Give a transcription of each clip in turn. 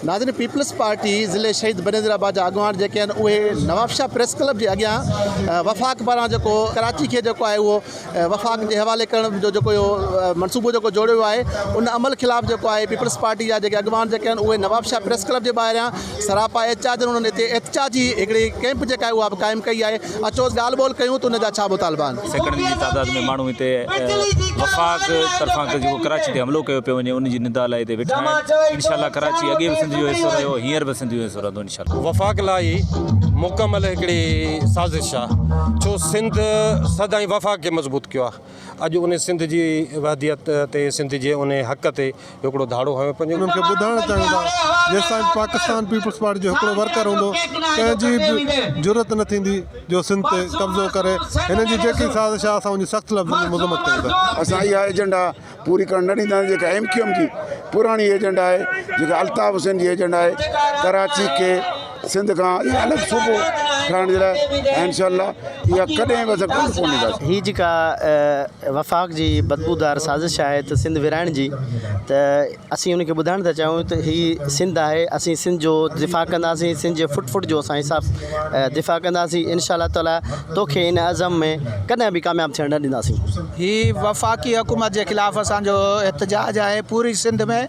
ناظرين پيپلز پارٽي ضلعي شهيد بنيندر آباد جا اڳواڻ جيڪي آهن اهي نوابشاهه پريس ڪلب جي اڳيان وفاق پاران جيڪو ڪراچي کي جيڪو آهي اهو وفاق جي حوالي ڪرڻ جو جيڪو اهو منصوبو جيڪو جوڙيو ويو آهي ان عمل خلاف جيڪو آهي پيپلز پارٽي جا جيڪي اڳواڻ جيڪي آهن اهي نوابشاهه پريس ڪلب جي ٻاهريان سراپا احتجاج آهن انهن هتي احتجاجي هڪڙي ڪئمپ جيڪا آهي اها به قائم ڪئي آهي اچو ڳالهه ٻولهه ڪيون ته ان جا ڇا مطالبا آهن. سيڪڙن جي تعداد ۾ ماڻهو هتي وفاق طرفان جيڪو ڪراچي تي حملو ڪيو پيو وڃي ان جي ندا لاء هتي ويٺا آهن انشاء الله ڪراچي اڳي به سنڌ جو حصو رهيو هينئر به سنڌ جو حصو رهندو انشاء الله. وفاق لاء هي مڪمل هڪڙي سازش آهي ڇو سنڌ سدائين وفاق کي مضبوط ڪيو آهي. اڄ انهي سنڌ جي وحديت تي سنڌ جي انهي حق تي هڪڙو ڌاڙو هنيو پنهنجي انهن کي ٻڌائڻ چاهيون ٿا جيستائين پاڪستان پيپلز پارٽي جو هڪڙو ورڪر هوندو ڪنهن جي به جرئت نه ٿيندي جو سنڌ تي قبضو ڪري هنن جي جيڪي سازش آهي اسان ان جي سخت لفظن ۾ مذمت ڪيون ٿا. اسان اها ايجنڊا پوري ڪرڻ نه ڏينداسين جيڪا ايم ڪيو ايم جي پراڻي ايجنڊا آهي جيڪا الطاف حسين جي ايجنڊا آهي ڪراچي کي سنڌ کان اهو الڳ صوبو ٺهڻ جي لاء ۽ انشاء الله اها ڪڏهن به اسان ڪنڌ ڪونه ڏينداسين. هي جيڪا وفاق جي بدبودار سازش آهي ته سنڌ ورهائڻ جي ته اسين ان کي ٻڌائڻ ٿا چاهيون ته هي سنڌ آهي اسين سنڌ جو دفاع ڪنداسين سنڌ جي فٽ فٽ جو اسان حساب دفاع ڪنداسين انشاء الله تعالٰي توکي ان عزم ۾ ڪڏهن به ڪامياب ٿيڻ نه ڏينداسين. هي وفاقي حڪومت جي خلاف اسان جو احتجاج آهي پوري سنڌ ۾.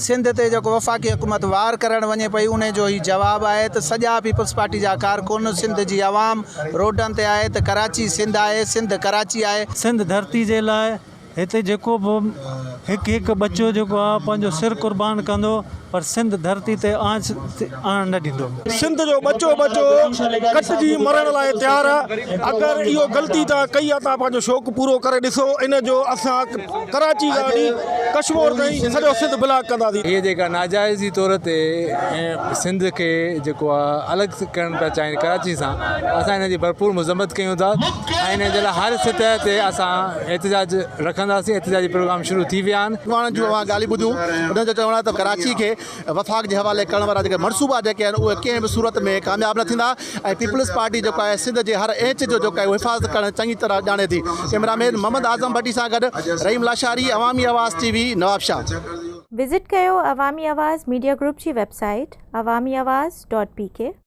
سنڌ تي جيڪو وفاقي حڪومت وار ڪرڻ وڃي پئي انهي جو هي جواب آهي ته سڄا پيپلز پارٽي جا ڪارڪن سنڌ جي عوام روڊن تي آهي ته ڪراچي سنڌ آهي سنڌ ڪراچي آهي. سنڌ ڌرتي جي لاء هتي جيڪو به هڪ هڪ ٻچو جيڪو آهي پنهنجو سر قربان ڪندو پر سنڌ ڌرتي تي آنچ آڻڻ نه ڏيندو. سنڌ جو ٻچو ٻچو ڪٽجي مرڻ لاء تيار آ اگر اهو غلطي توهان ڪئي آ توهان پنهنجو شوق پورو ڪري ڏسو ان جو اسان ڪراچي کان وٺي ڪشمور تائين سڄو سنڌ بلاڪ ڪنداسين. هي جيڪا ناجائزي طور تي سنڌ کي جيڪو آ الڳ ڪرڻ پيا چاهين ڪراچي سان اسان ان جي ڀرپور مذمت ڪيون ٿا ۽ ان جي لاء هر سطح تي اسان احتجاج رکنداسين احتجاجي پروگرام شروع ٿي ويا آهن. اڳواڻن جون اوهان ڳالهيون ٻڌيون انهن جو چوڻ آهي ته ڪراچي کي وفاق جي حوالي ڪرڻ وارا جيڪي منصوبا جيڪي آهن اهي ڪنهن به صورت ۾ ڪامياب نه ٿيندا ۽ پيپلز پارٽي جيڪو آهي سنڌ جي هر انچ جو جيڪو آهي حفاظت ڪرڻ چڱي طرح ڄاڻي ٿي ڪئميرا مين محمد اعظم ڀٽي سان گڏ رحيم Lashari Awami Awaz T V Nawabshah. Visit ڪيو عوامي آواز ميڊيا گروپ جي website Awami Awaz dot P ڪي.